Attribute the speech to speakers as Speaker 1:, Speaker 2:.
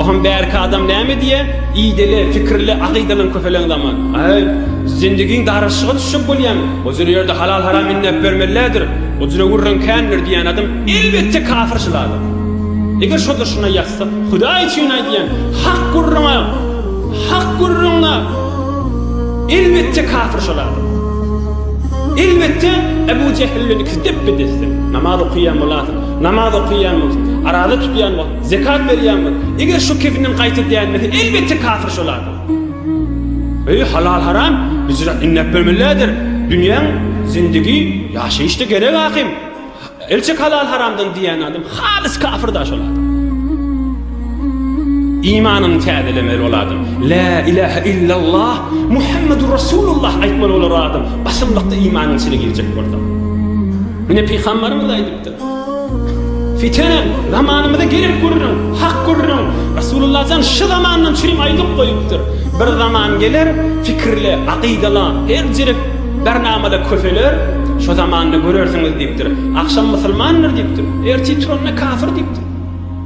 Speaker 1: Oham bärki adam näme diýä, ideli, pikirli, akydalan köpeleň zaman. Aý, zendigiň daraşyga düşjek bolýamy? Ozüne ýerde halal-haram inläp bermelilädir, ozüne gürrüň kändir diýän adam elbetde kafir jylalar. Eger şo-da şuna ýazsa, Hudaý üçin aýdýan, hak gürrüňe, hak gürrüňe elbetde kafir jylalar. Elbetde Ebu Jehil bilen ikisi depbe-desdir. Namaz okaýan bolasyň. Namaz okaýanmyz, araza tutýanmyz, zekat berýänmiz? Eger şu kefinden gaýta dänmese, elbetde kafir şol adam. Öýi halal haram biz üçin inläp bermelidir. Dünýäň zindigi ýaşaýyşda gerek ahim. Elçek halal haramdan diýen adam halys kafir da şol adam. İmanını täzelemeli ol adam. La ilahe illallah Muhammedur Rasulullah aýtmaly olar adam. Basymlykda imanyň içine girjek bolsa. Mine pygamberimiz aýdyp Fitenen, zamanymyza gerek gürrüň, hak gürrüň. Rasulullah jan şy zamandan çürim aýdyp goýupdyr. Bir zaman geler, fikirli, akydala, her jerek bernamada köseler, şo zamanda görersiňiz diýipdir. Agşam musulmandyr diýipdir, ertir turanda kafir diýipdir.